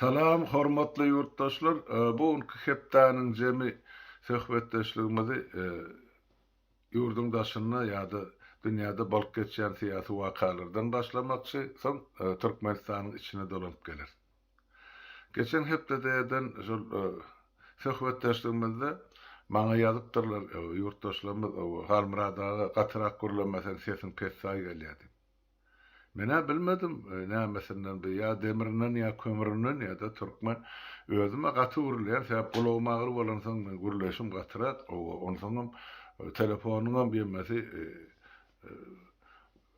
Salam, hormatly ýurtdaşlar! Bu günki hepdäniň jemi söhbetdeşligimizi ýurduň daşynda ýa-da dünýäde bolup geçýän syýasy wakalardan başlamakçy, soň Türkmenistanyň içine dolanyp geleris. Geçen hepdede eden şol söhbetdeşligimizde maňa ýazypdyrlar ýurtdaşlarymyz, Halmyrat aga, gatyrak gürleme seň sesiň pessaý gelýär diýip. Men-ä bilmedim nämesinden bu ýa demirinden ýa kömründen ýa-da türkmen. Özüm-ä gaty gürleýän sebäp gulagym agyr bolansoň men gürleýşim gatyrak, onsoňam telefonyňam ýemesi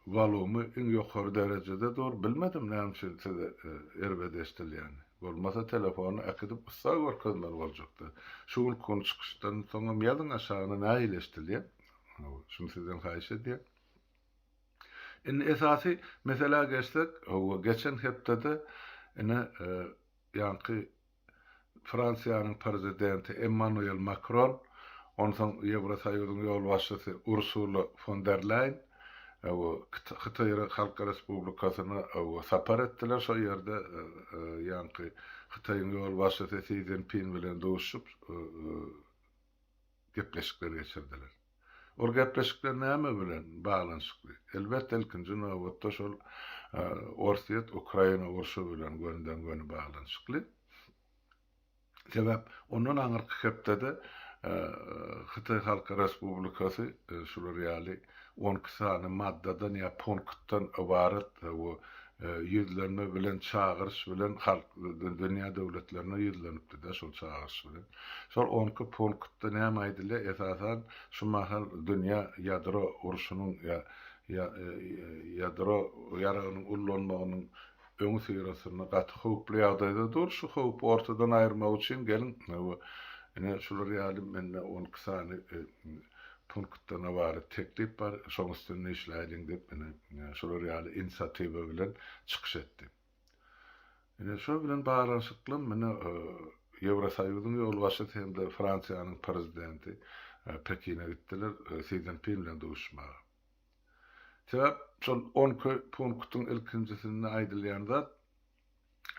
Walumy iň ýokary derejede dur bilmedim näme üçin siz erbet eşdilýän bolmasa telefony äkidip ussa görkezmeli boljakda şu günki gün çykyşdan soňam ýazyň aşagyna nähili eşdilýä şuny sizden haýyş edýän. Indi esasy meselä geçsek howwa geçen hepdede ine ýaňky Fransiýanyň Prezidenti Emmanuel Makron, onsoň Ýewrosoýuzyň ýolbaşçysy Ursula fon der Leýn Hytaý Halk Respublikasyna sapar etdiler. Şol ýerde ýaňky Hytaýyň ýolbaşçysy Si Szinpin bilen duşuşyp, gepleşikler geçirdiler. Ol gepleşikler näme bilen baglanyşykly? Elbetde, ilkinji nobatda şol Orsýet, Ukraina urşy bilen gönüden-göni baglanyşykly. Sebäp ondan aňyrky hepdede Hytaý Halk Respublikasy şular ýaly on iki sany maddadan ýa punktdan ybarat bu ýüzlenme bilen çagyryş bilen halk dünýä döwletlerine ýüzlenipdi-de şol çagyryş bilen. Şol on iki punktda näme aýdylýar? Esasan şu mahal dünýä ýadro urşunyň ýa ýa ýadro ýaragynyň ullanmagynyň öňi syrasynda gaty howply ýagdaýda dur. Şu howpy ortadan aýyrmak üçin geliň ine şular ýaly mende on iki sany punktdan ybarat teklip bar, şoň üstünde işläýliň diýip, ine, şular ýaly inisiatiwa bilen çykyş etdi. Ine, şo bilen baglanyşykly ine, Ýewrosoýuzyň ýolbaşçysy hem-de Fransiýanyň Prezidenti Pekine gitdiler Si Szinpin bilen duşuşmaga. Sebäp şol on iki punktyň ilkinjisinde aýdylýan zat,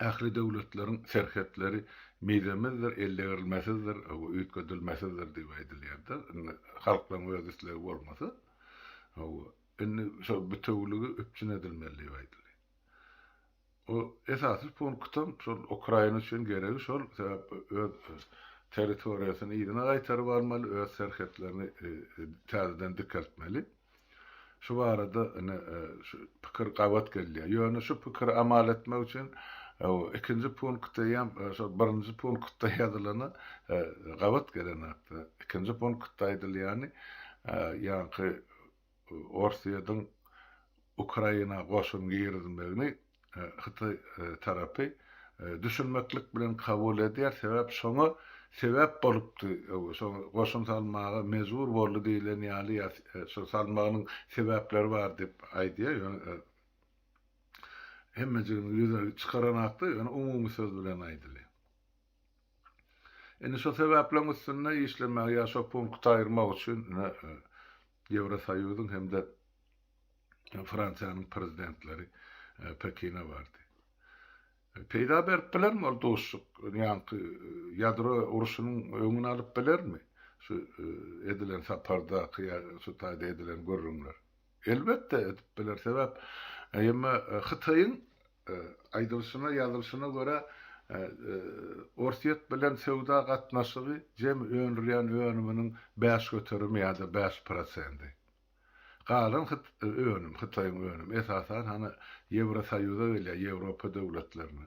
Ähli döwletleriň serhetleri mizemizdir, ellegerilmesizdir, üýtgedilmesizdir diýip aýdylýardy. Indi halklaryň öz islegi bolmasa, indi şol bitewiligi üpjün edilmeli diýip aýdylýar. O esasy punktam şol Ukraina üçin geregi şol, sebäpli öz territoriýasyny yzyna gaýtaryp almaly, öz serhetlerini täzeden dikeltmeli. Şu barada ine, şu pikir gabat gelýär. Ýöne şu pikiri amal etmek üçin ikinji punkty hem şol birinji punktda ýazylana gabat gelen hakda. Ikinji punktda aýdylýany, ýaňky Orsýetiň Ukraina goşun girizmegini Hytaý tarapy düşünmeklik bilen kabul edýär, sebäp şoňa sebäp bolupdy, şoň goşun salmaga mejbur boldy diýilen ýaly ýa şo salmagynyň sebäpleri bar diýip aýdýar, ýöne hemmejigini ýüze çykaran hakda, ýöne umumy söz bilen aýdylýar. Indi şo sebäpleň üstünde işlemäge ýa şo punkty aýyrmak üçin Ýewrosoýuzyň hem-de Fransiýanyň prezidentleri Pekine bardy. Peýda berip bilermi ol dostluk? Ýaňky ýadro urşunyň öňüni alyp bilermi şu edilen sapardaky ýa şu taýda edilen gürrüňler? Elbetde edip biler. Sebäp emme Hytaýyň aýdylyşyna, ýazylyşyna görä Orsýet bilen söwda gatnaşygy jemi öndürýän önüminiň bäş göterimi ýa-da bäş prosendi. Galan hyt önüm hytaýyň önüm esasan hany ýewrosoýuza gelýär ýewropa döwletlerine.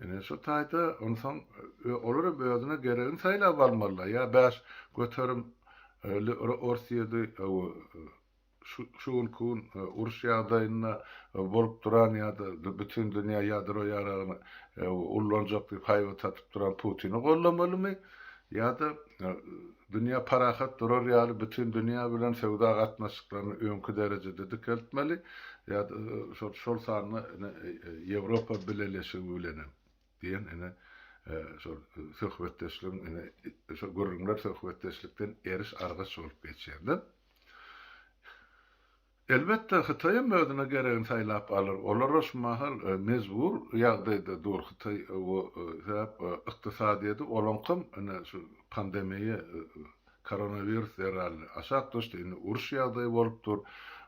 Ine şu taýda onsoň olar hem özüne geregini saýlap almalylar ýa bäş göterim li orsyýedi şu şu günki gün uruş ýagdaýynda bolup duran ýada bütin dünýä ýadro ýaragyny ullanjak diýip haýbat atyp duran putini gollamalymy ýada Dünýä parahat durar ýaly bütin dünýä bilen söwda gatnaşyklaryny öňki derejede dikeltmeli, ýa-da şol şol sanda ine Ýewropa Bileleşigi bilenem diýen ine şol söhbetdeşligiň ine şol gürrüňler söhbetdeşlikden eriş-argaç bolup geçýär-de. Elbetde, Hytaýam özüne geregini saýlap alar. Olara şu mahal mejbur ýagdaýda dur Hytaý we sebäp ykdysadyýeti olaňkam ine şu pandemiýa koronawirus zerarly aşak düşdi. Indi uruş ýagdaýy bolup dur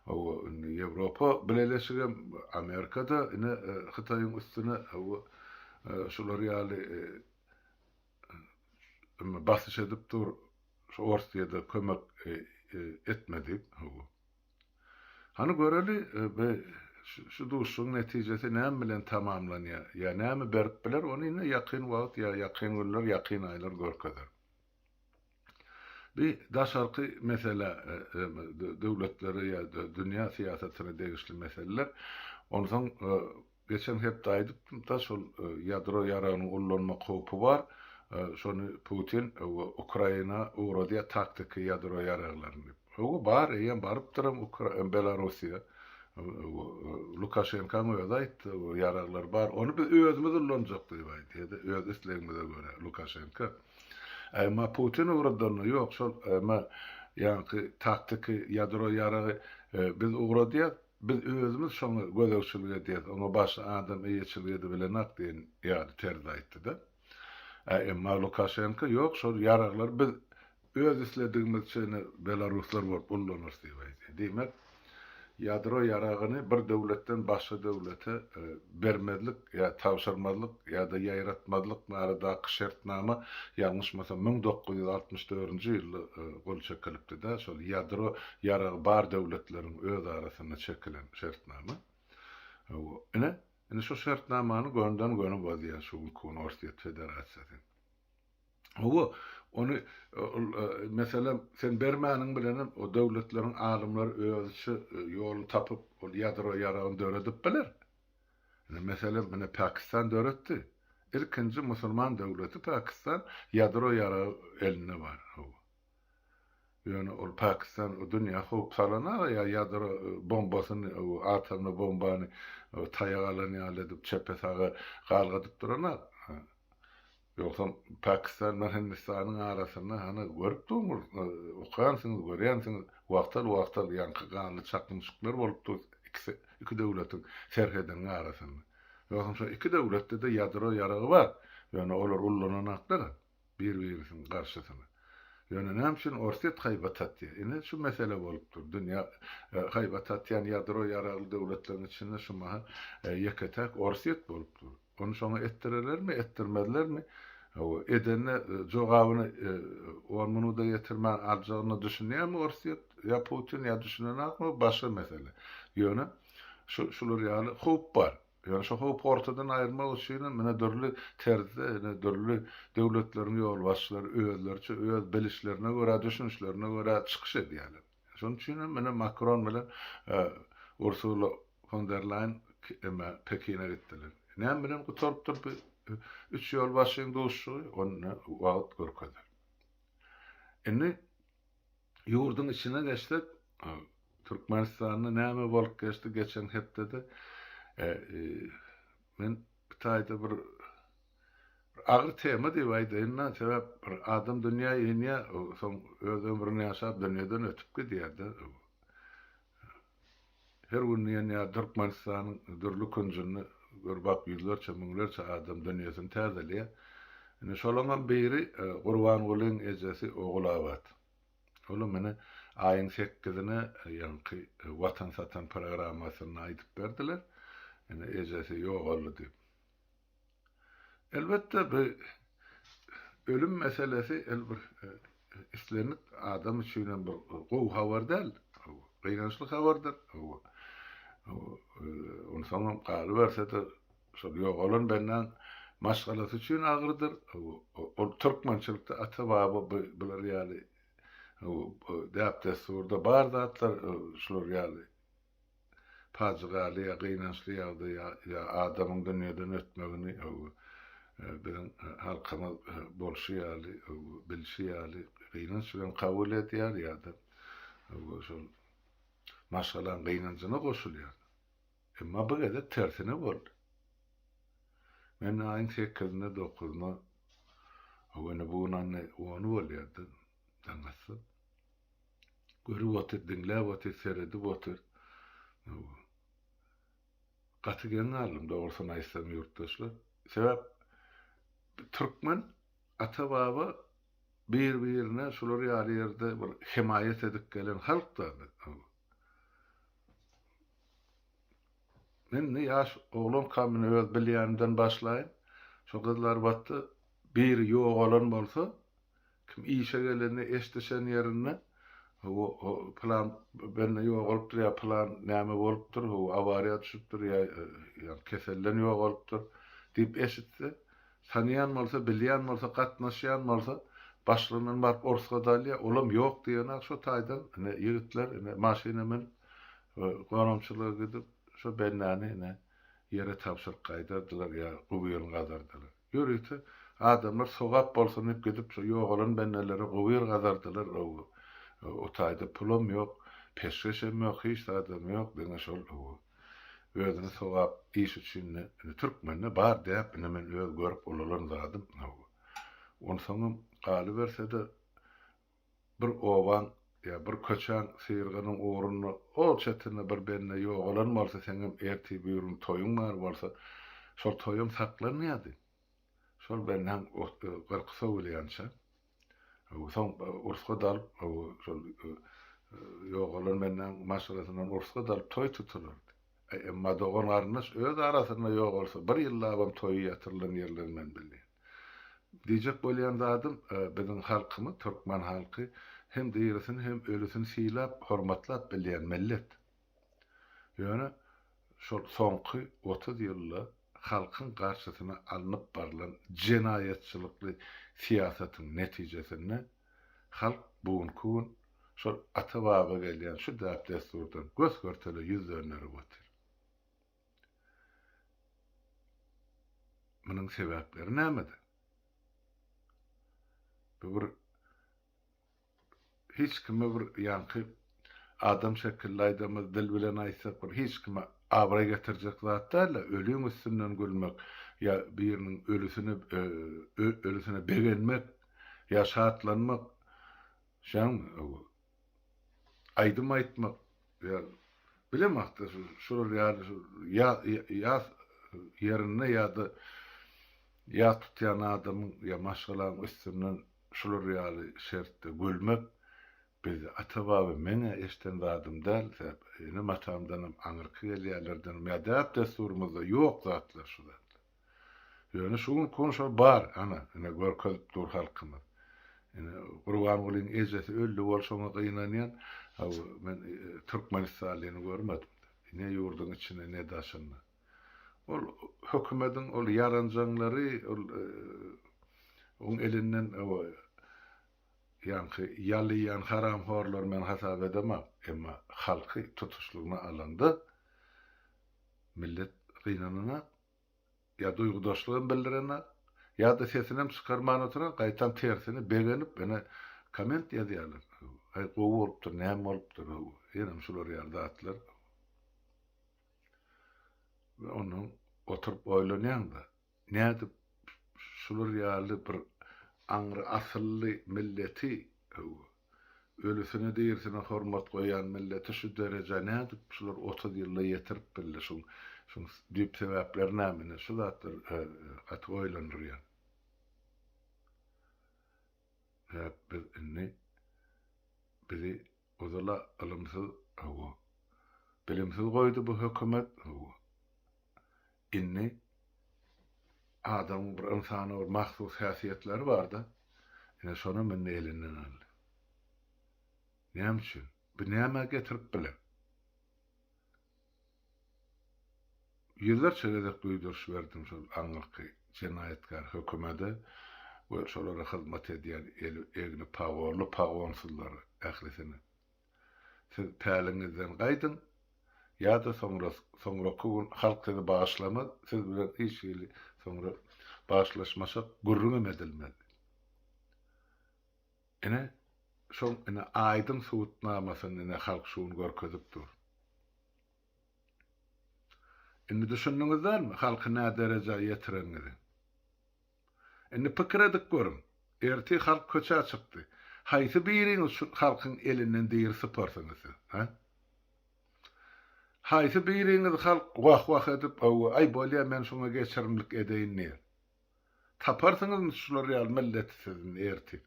we indi Ýewropa Bileleşigem, Amerikada ine Hytaýyň üstüne we şular ýaly Emma basyş edip dur, şu Orsyýada kömek etme diýip, hawa. Hany göreli, be şu duşuşygyň netijesi näme bilen tamamlanýar, ýa näme berip biler, ony indi ýakyn wagt, ýa ýakyn günler, ýakyn aýlar görkezer. Bi daşarky mesele, döwletlere ýa dünýä syýasatyna degişli meseleler. Onsoň geçen hepde aýdypdym-da şol ýadro ýaragynyň ullanmak howpy bar. Şony Putin Ukraina ugradýar taktiki ýadro ýaraglaryny diýip. Hawa bar, eýýäm barypdyram Belarussiýa. Lukaşenkaň özi aýtdy, ýaraglar bar. Ony biz özümiz ulanjak diýip aýdýada öz islegimize görä Lukaşenka. Emma Putin ugradanda ýok, şol emma ýaňky taktiki ýadro ýaragy biz ugradýas, biz özümiz şoňa gözegçilik edýäs, oňa başga adam eýeçilik edibilenak diýen ýaly terzde aýtdy-da. Emma Lukaşenko ýok, şol ýaraglary biz öz isledigimizçe ine belaruslar bolup ullanarys diýip aýdýar. Diýmek, Ýadro ýaragyny bir döwletden başga döwlete bermezlik ýa tabşyrmazlyk ýa-da ýaýratmazlyk baradaky şertnama ýalňyşmasam müň dokuz ýüz altmyş dördünji ýylda gol çekilipdi-de, şol ýadro ýaragy bar döwletleriň öz arasynda çekilen şertnama. Ine, indi şu şertnamany gönden-göni bozýar şu günki gün Orsýet Federasiýasy. Hawa, ony, meselem, sen bermäniň bilenem o döwletleriň alymlary özüçe ýoluny tapyp, ol ýadro ýaragyny döredip biler. Indi, meselem, mine Pakistan döretdi. Ilkinji musulman döwleti Pakistan ýadro ýaragy elinde bar. Hawa. Ýöne ol Pakistan dünýä howp salana-da ýa ýadro bombasyny, atomly bombany taýak alan ýaly edip çepe-saga galgadyp durana. Ýogsam Pakistan bilen Hindistanyň arasynda hany görüp durmyz, okansyňyz, görýänsiňiz, wagtal-wagtal ýaňky ganly çaknyşyklar bolup dur ikisi iki döwletiň serhediniň arasynda. Ýogsam şo iki döwletde-de ýadro ýaragy bar, ýöne olar ullananaklar bir-birisiniň garşysyna. Ýöne näme üçin Orsýet haýbat atýar? Ine şu mesele bolup dur. Dünýä haýbat atýan ýadro ýaragly döwletleriň içinde şu mahal ýeke-täk Orsýet bolup dur. Ony şoňa etdirelermi, etdirmezlermi? Hawa, edende jogabyny on minuda getirmän aljagyna düşünýärmi Orsýet ýa Putin ýa düşünenakmy o başga mesele. Ýöne şu şular ýaly howp bar. Ýöne şu howpy ortadan aýyrmak üçin hem ine dürli terzde, ine dürli döwletleriň ýolbaşçylary özleriçe öz bilişlerine görä, düşünişlerine görä çykyş edýärler. Şonuň üçin hem ine Makron bilen Ursula fon der Laýen emä Pekine gitdiler. Näme bilen gutarypdyr bu üç ýolbaşçynyň duşuşygy, ony wagt görkezer. Indi ýurduň içine geçsek, Türkmenistanda näme bolup geçdi geçen hepdede? Men bir taýda bir Bir agyr tema diýip aýdaýyn men, sebäp bir adam dünýä inýär, soň öz ömrüni ýaşap dünýeden ötüp gidýär-de. Her gün diýen ýaly Türkmenistanyň dürli künjünde gör bak ýüzlerçe, müňlerçe adam dünýesini täzeleýär. Indi şolaňam biri Gurbangulyň ejesi Ogulabat. Olam ine aýyň sekizine ýaňky Watan satan programmasynda aýdyp berdiler. Ine ejesi ýogaldy diýip. Elbetde bu ölüm meselesi el bir islendik adam üçin hem bir gowy habar däl. Gynançly habardyr. Onsoňam galyberse-de şol ýogalan bendäň maşgalasy üçin agyrdyr. Ol türkmençilikde ata-baba bular ýaly däp-dessurda bar zatlar şular ýaly pajygaly ýa gynançly ýagdaýa ýa adamyň dünýeden ötmegini biziň halkymyz bolşy ýaly, bilşi ýaly gynanç bilen kabul edýär ýa-da şol maşgalaň gynanjyna goşulýar. Emma bu gezek tersine boldy. Men aýyň sekizinde, dokuzynda, ýöne bu gün ony bolýardy, Daň atsyp. Görüp otyr, diňläp otyr, seredip otyr. Gaty geň galdym, dogrusyny aýtsam, ýurtdaşlar. Sebäp türkmen ata-baba bir-birine şular ýaly ýerde bir hemaýat edip gelen halk-da. Men indi ýaş oglankam men öz bilýänimden başlaýyn. Şu gyzlar batda biri ýogalan bolsa, Kim işe gelende eş düşen ýerinde ho ho plan bende ýogalypdyr ýa plan näme bolupdyr ho awariýa düşüpdir ýa ýa keselden ýogalypdyr diýip eşitse tanaýan bolsa bilýän bolsa gatnaşýan bolsa başlygyndan baryp orsga dalýa olam ýok diýenok şo taýdan ine ýigitler ine maşyna münüp gonamçylyga gidip şo bendäni ine ýere tabşyryp gaýdardylar ýa gubyryny gazardylar. Ýörite adamlar sogap bolsun diýip gidip şo ýogalan bendelere gowyr gazardylar gowy. O taýda pulam ýok, peşgeşem ýok, hiç zadam ýok diňe şol gowy. Özüni sogap iş üçin indi türkmende bar däp indi men öz görüp ulalan zadym gowy. Onsoňam galybersede Bir obaň ýa bir köçäň syrgynyň ugrunda ol çetinde bir bende ýogalan bolsa, seňem ertir-birgün toýuň bar bolsa, şol toýam saklanmaýardy. Şol bendäň gyrky sowulýança, soň ursga dalyp, şol ýogalan bendäň maşgalasyndan ursga dalyp toý tutulardy. E, emma dogan-garyndaş öz arasynda ýok bolsa, bir ýyllabam toýy ýatyrylan ýerleri men bilmeýän. Diýjek bolýan zadym, e, biziň halkymyz, türkmen halky hem dirisini, hem ölüsini sylap, hormatlap bilýän millet. Ýöne şol soňky otuz ýylda halkyň garşysyna alnyp barylan jenaýatçylykly syýasatyň netijesinde, Halk bu günki gün şol ata-baba gelýän şu däp-dessurdan gös-görtele ýüz dönderip otyr. Munuň sebäpleri nämede? Bu bir hiç kime bir ýaňky adam şekilli aýdamyz, dil bilen aýtsak bir hiç kime abraý getirjek zat däl-de, ölüň üstünden gülmek ýa biriniň ölüsine ölüsine begenmek ýa şatlanmak, şaň aýdym aýtmak, ýa bilemok-da, şular ýaly ýas ýerinde ýa-da ýas tutýan adamyň ýa maşgalaň üstünden şular ýaly şertde gülmek, biz ata-baba men-ä eşden zadym däl, enem-atamdanam aňyrky gelýänlerdenim ýa däp-dessurymyzda ýok zatlar şu zatlar. Ýöne şu gün kon şol bar, ana, ine, görkezip dur halkymyz. Ine, Gurbangulyň ejesi öldi bolşuňa gynanýan, a bu men türkmenistanlyny görmedim. Ne ýurduň içinde, ne daşynda. Ol hökümediň ol ýaranjaňlary, ol oň elinden o ýaňky ýalaýan haramhorlary men hasap edemok, emma halky tutuşlygyna alanda millet gynananok. Ýa duýgudaşlygam bildirenok, ýa-da sesinem çykarman oturan, gaýtam tersine begenip ene komment ýazýarlar. Aý gowy bolupdyr, näme bolupdyr how, ýenem şular ýaly zatlar. We ondan oturyp oýlanýaň-da, nädip şular ýaly bir aňry asylly milleti how, Ölüsine dirisine hormat goýan milleti şu derejä nädip şular otuz ýylda ýetirip bildi şuň şuň düýp sebäpleri näme indi şu zatlar gaty oýlandyrýar. Nädip biz indi bizi ozala ylymsyz hawa bilimsiz goýdy bu hökümet hawa Indi adamyň bir ynsana bir mahsus häsiýetleri barda, ine şonam indi elinden aldy. Näme üçin? Bu nämä getirip biler? Ýüzlerçe gezek duýduryş berdim şol aňyrky jenaýatkär hökümede we şolara hyzmat edýän eli egni pagorly pagonsuzlara, ählisine. Siz päliňizden gaýdyň, ýa-da soňra, soňraky gün halk sizi bagyşlamaz, siz bilen hiç hili soňra bagyşlaşmasak, gürrüňem edilmez. Ine, şoň, ine, aýdyň subutnamasyny, ine, halk şu gün görkezip dur. Indi düşündiňiz dälmi, halky nä derejä ýetireniňizi? Indi pikir edip görüň, ertir halk köçä çykdy. Haýsy biriňiz şu halkyň elinden diri syparsyňyz siz, hä? Haýsy biriňiz halk wah-wah edip, hawa, aý bolýa men şuňa geçirimlik edeýin diýer? Taparsyňyzmy şular ýaly milleti siz indi ertir?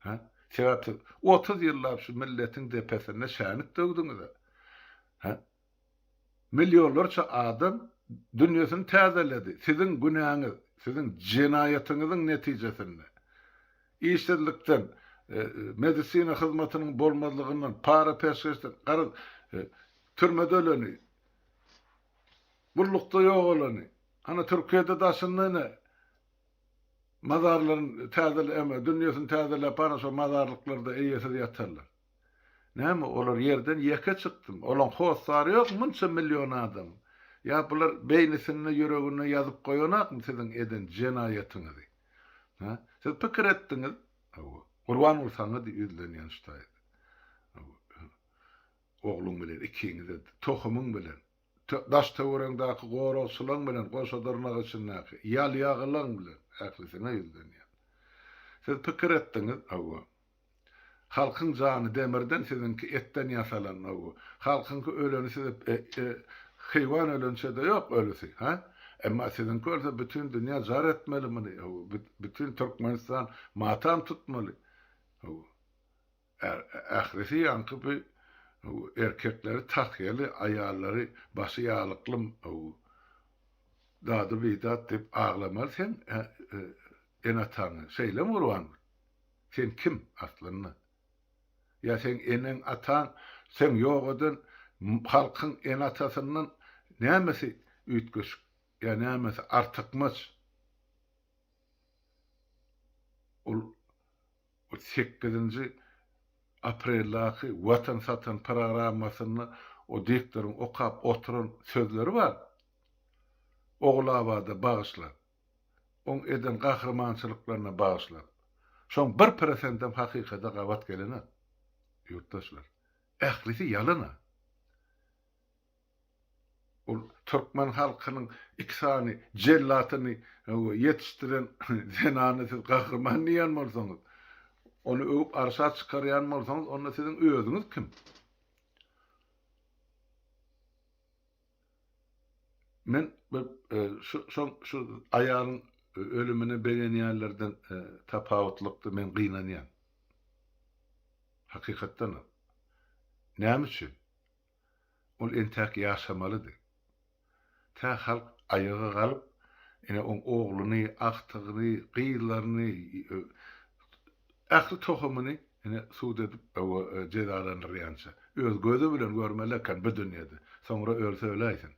Hä? Sebäp siz otuz ýyllap şu milletiň depesinde şänik döwdüňiz-ä. Hä? Millionlarça adam dünýesini täzeledi. Siziň günäňiz, siziň jenaýatyňyzyň netijesinde, işsizlikden, medisina hyzmatynyň bolmazlygyndan, para peşgeşden, garaz, türmede öleni, gullukda ýogalany, ana Türkiýede daşynda ine mazarlaryny täzele, dünýesini täzeläp baran şo mazarlyklarda eýesiz ýatanlar. Näme olar ýerden ýeke çykdymy? Olaň hossary ýokmy munça million adam? Ýa bular beýnisinde, ýüreginde ýazyp goýanakmy siziň eden jenaýatyňyzy? Hä? Siz pikir etdiňiz? Hawa. Gurban ol saňa diý ýüzlenýän ştaýda. Hawa. Ogluň bilen ikiňize-de, tohumyň bilen, daş-töweregiňdäki goragçylaň bilen, goşadyrnak içindäki ýalýagylaň bilen ählisiňe ýüzlenýän. Siz pikir etdiňiz? Hawa. Halkyň jany demirden siziňki etden ýasalan o bu halkyňky öleni size heýwan ölençede ýok ölüsi ha emma siziňki ölse bütin dünýä jar etmeli muny o bu bütin türkmenistan matam tutmaly o bu ährisi ýaňky bu erkekleri tahýaly aýallary başy ýalykly o bu dady bidat diýip aglamaly seň enataňy şeýlemi gurban Sen kim, aslynda? Ýa seň eneň, ataň, seň ýok eden halkyň ene-atasyndan nämesi üýtgeşik ýa nämesi artykmaç? Ol sekizinji apreldaky Watan satan programmasynda o diktoryň okap oturan sözleri bar, Ogulabada bagyşlap. oň eden gahrymançylyklaryna bagyşlap, şoň bir prosendem hakykada gabat gelenok, ýurtdaşlar. Ählisi ýalana. Ol türkmen halkynyň iki sany jellatyny ýetişdiren zenany siz gahryman diýýän bolsaňyz, ony öwüp arşa çykarýan bolsaňyz, onda siziň özüňiz kim? Men bir şu şoň şu aýalyň ölümine begenýänlerden tapawutlykda men gynanýan. Hakykatdanam. Näme üçin? Ol entäk ýaşamalydy. Tä halk aýaga galyp, ine oň ogluny, agtygyny, gyzlaryny, Ähli tohumyny ine sud edip owo jezalandyrýança öz gözi bilen görmeli eken bu dünýede soňra ölse öläýsin.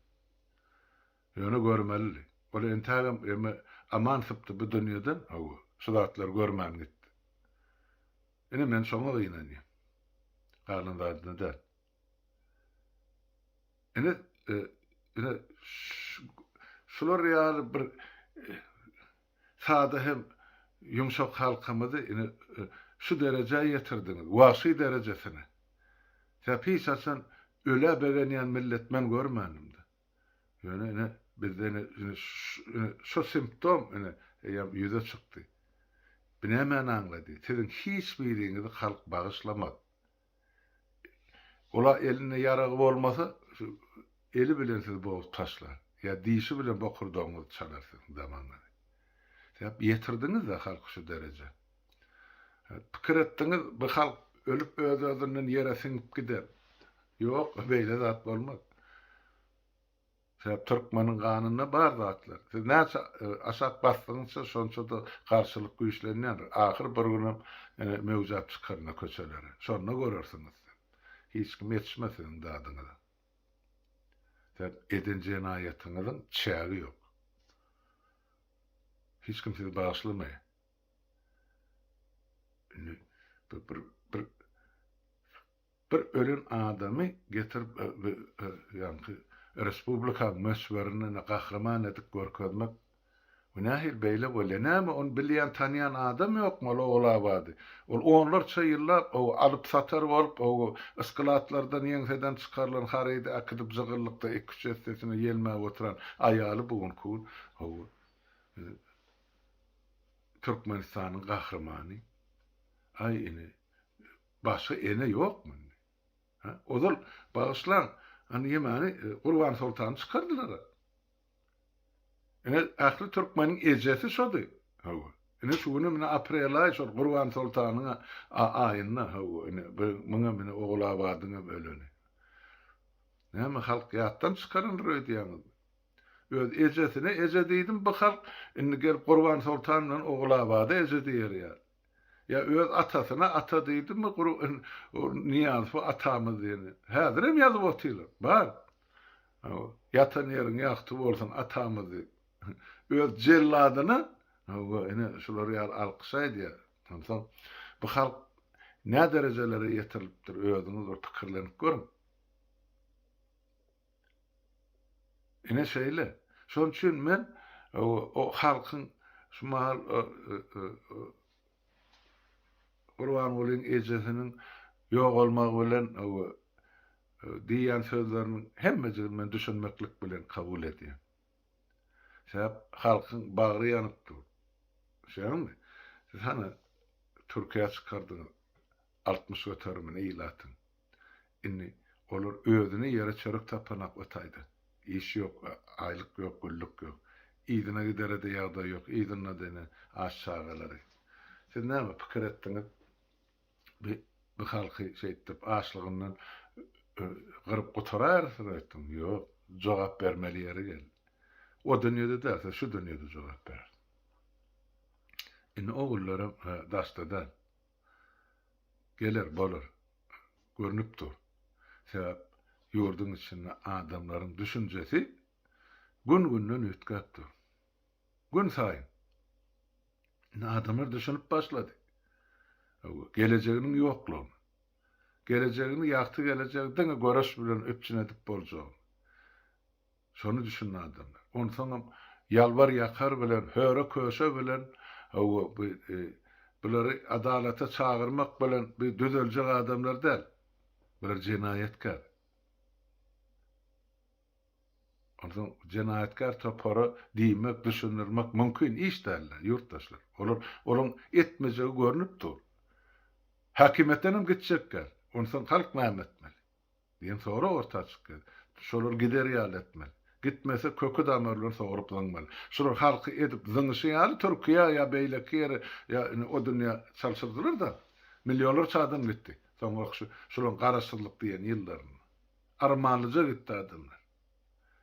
Ýöne görmelidi. Ol entägem eme aman sypdy bu dünýeden owo şu zatlary görmän gitdi. Ine men şoňa gynanýan. Galan zadyna däl. Ine ine şular ýaly bir Sada hem ýumşak halkymyzy ine şu derejä ýetirdiňiz, wagşy derejesine. Sebäp hiç haçan ölä begenýän millet men görmändim-de. Ýöne ine bizde ine ine ine şu simptom ine eýýäm ýüze çykdy. Bu nämäni aňlady? Siziň hiç biriňizi halk bagyşlamaz. Ola elinde ýaragy bolmasa, şu eli bilen sizi bogup taşlar. Ýa dişi bilen bokurdagyňyzy çalar siziň damanyňyzy. Sebäp ýetirdiňiz-de halky şu derejä. Pikir etdiňiz, bu halk ölüp öz-özünden ýere siňip gider. Ýok, beýle zat bolmaz. Sebäp türkmeniň ganynda bar zatlar. Siz näçe aşak basdygyňça şonçada garşylyk güýçlenýändir. Ahyr bir günem möwjäp çykaryn-a köçelere. Şonda görersiňiz siz. Hiç kim ýetişmez siziň dadyňyza. Sebäp eden jenaýatyňyzyň çägi ýok. Hiç kim sizi bagyşlamaýar. Indi bir bir Bir ölen adamy getirip ýaňky respublikaň möçberinden gahryman edip görkezmek bu nähili beýle bolýar? Näme ony bilýän tanýan adam ýokmy ol Oglabady? Ol onlarça ýyllap ow alyp satar bolup ow ysklatlardan ýeňseden çykarylan harydy äkidip jygyllykda iki üç essesine ýelmäp oturan aýaly bu günki gün ow Türkmenistanyň gahrymany. Aý ine Başga ene ýokmy indi? Hä? Ozal, bagyşlaň, ony ýemany, Gurban soltany çykardylar-a. Ine, ähli türkmeniň ejesi şody. Hawa. Ine, şu günem, ine, aprelaý şol Gurban soltanyň aýynda, hawa, ine, muňam, ine, Ogulabadyňam öleni. Näme, halk ýatdan çykarandyr öýdýäňizmi? Öz ejesine eje diýdim bu halk, indi gelip Gurban soltan bilen Ogulabada eje diýer ýaly. Ýa öz atasyna ata diýdimi gury niýans bu atamyz diýeni. Häzirem ýazyp otyrlar. Bar. Hawa. Ýatan ýeriň ýagty bolsun atamyz diýip. Öz jelladyna hawa ine şular ýaly alkyş aýdýar. Onsoň bu halk näderejelere ýetirilipdir özüňiz bir pikirlenip görüň. Ine şeýle. Şonuň üçin men o halkyň şu mahal Gurbangulyň ejesiniň ýogalmagy bilen diýýän sözleriniň hemmejigini men düşünmeklik bilen kabul edýän. Sebäp halkyň bagry ýanyp dur. Düşýäňizmi? Siz hany Türkiýä çykardyňyz altmyş göterimini ilatyň. Indi olar özüne ýere çörek tapanok we taýda. Iş ýok, aýlyk ýok, güllük ýok. Yzyna gidere-de ýagdaý ýok, yzynda-da ine aç çagalary. Siz näme pikir etdiňiz? Bi bi halky şeýtdip açlygyndan gyryp gutaraýarsyňyz öýtdüňiz? Ýok. Jogap bermeli ýeri geldi. O dünýede däl, siz şu dünýede jogap berersiňiz. Indi ogullaram daşda däl. Geler, bolar. Görnüp dur. Sebäp ýurduň içinde adamlaryň düşünjesi gün-günden üýtgäp dur. Günsaýyn. Indi adamlar düşünip başlady. Öwü, gelejeginiň ýoklugyny. Gelejegini, ýagty gelejegi diňe göreş bilen üpjün edip boljagyny. Şony düşünen adamlar. Onsoňam ýalbar-ýakar bilen, höre-köşe bilen, hawa, bu, bulary adalata çagyrmak bilen bu düzeljek adamlar däl. Bular jenaýatkär. Onsoň jenaýatkär topara diýmek, düşündirmek mümkin iş däl-le, ýurtdaşlar. Olar, olaryň etmejegi görnüp dur. Häkimiýetdenem gitjekgär. Onsoň halk näme etmeli? Diýen sorag orta açyk ýeri. Şolar gider ýaly etmeli. Gitmese köki damary bilen sogrup zyňmaly. Şular halky edip zyňyşy ýaly Türkiýä ýa beýleki ýere ýa indi o dünýä çalşyrdylar-da. Millionlarça adam gitdi. Soňrak şu şularyň garaşsyzlyk diýen ýyllarynda. Armanlyja gitdi adamlar.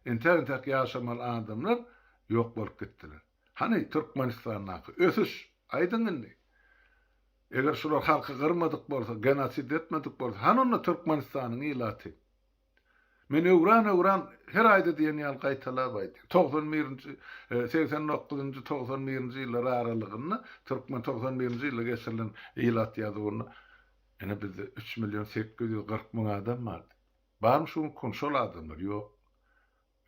Entäk-entäk ýaşamaly adamlar ýok bolup gitdiler. Hany Türkmenistandaky ösüş? Aýdyň indi. Eger şular halky gyrmadyk bolsa, genosid etmedik bolsa, hany onda Türkmenistanyň ilaty? Men öwran-öwran her aýda diýen ýaly gaýtalap aýdýan. Togsan birinji, segsen dokuzynjy, togsan birinji ýyllar aralygynda türkmen togsan birinji ýylda geçirilen ilat ýazuwynda ene bizde üç million sekiz ýüz kyrk müň adam bardy. Barmy şu günki gün şol adamlar? Ýok.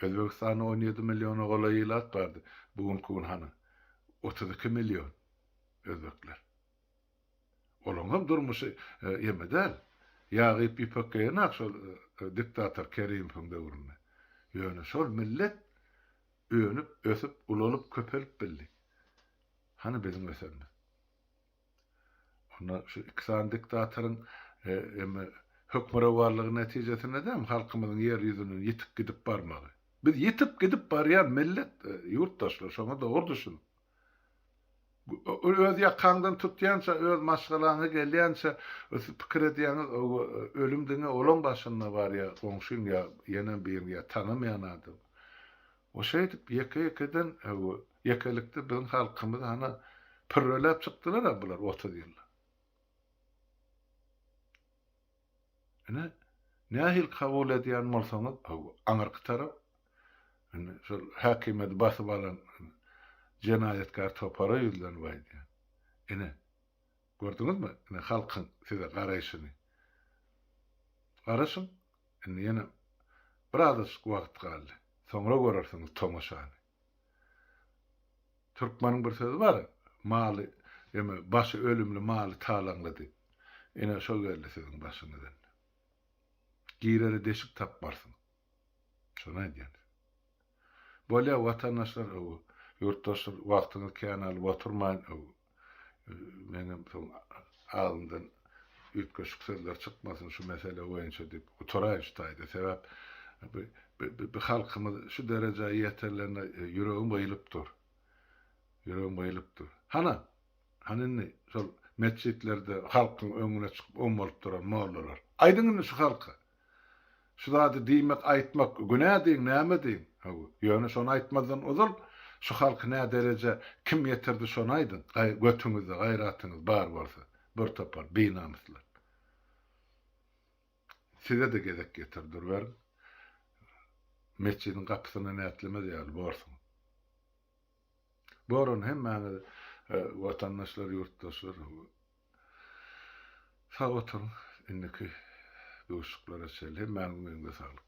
Özbegistanda on ýedi milliona golaý ilat bardy, bu günki gün hany, otuz iki million özbekler. Olaňam durmuşy ýeme däl. Ýag iýip ýüpek geýenak şol diktator Kerimowyň döwründe. Ýöne şol millet önüp, ösüp, ulalyp, köpelip bildi. Hany biziň ösenimiz? Onda şu iki sany diktatoryň hem hökmürowanlygy netijesinde-de hem halkymyzyň ýer ýüzünden ýitip gidip barmagy. Biz ýitip gidip barýan millet ýurtdaşlar, şoňa dogry düşüniň. Öz ýakaňdan tutýança, öz maşgalaňa gelýänçe siz pikir edýäňiz, ölüm diňe olaň başynda barýar, goňşyň ýa ýenem biriň ýa tanamaýan adam. We şeýdip ýeke-ýekeden we ýekelikde biziň halkymyzy hana pürreläp çykdylar-a bular otuz ýylda. Ine, nähili kabul edýän bolsaňyz, aňyrky tarap, indi şol häkimiýeti basyp alan jenaýatkär topara ýüzlenip aýdýan, ine, Gördüňizmi indi halkyň size garaýşyny. Garaşyň, indi ýene birazajyk wagt galdy. Soňra görersiňiz tomaşany. Türkmeniň bir sözi bar, Maly, ýeme, başy ölümli maly talaňla diýip. Ine, şo geldi siziň başyňyz indi. Girere deşik tapmarsyňyz. Şony aýdýan. Bolýa watandaşlar öw ýurtdaşlar wagtyňyz kän alyp oturmaýyn öw meňem soň agzymdan üýtgeşik sözler çykmasyn şu mesele boýunça diýip gutaraýyn şu taýda sebäp bi halkymyz şu derejä ýeterlerine ýüregim gyýylyp dur ýüregim gyýylyp dur hana hany indi şol metjitlerde halkyň öňüne çykyp ommalyp duran mollalar aýdyň indi şu halka Şu zady diýmek, aýtmak günä diýiň, näme diýiň? Hawa, ýöne şony aýtmazdan ozal, şu halky nä derejä kim ýetirdi şony aýdyň, götüňizde gaýratyňyz bar bolsa, bir topar binamyslar. Size-de gezek ýeter, duruberiň. Metjidiň gapysyna nätlemez ýaly borsuň. Doran hemmäňiz watandaşlar ýurtdaşlar sag oturyň indiki duşuklara çenli hemmäňiziň öňüňde saglyk.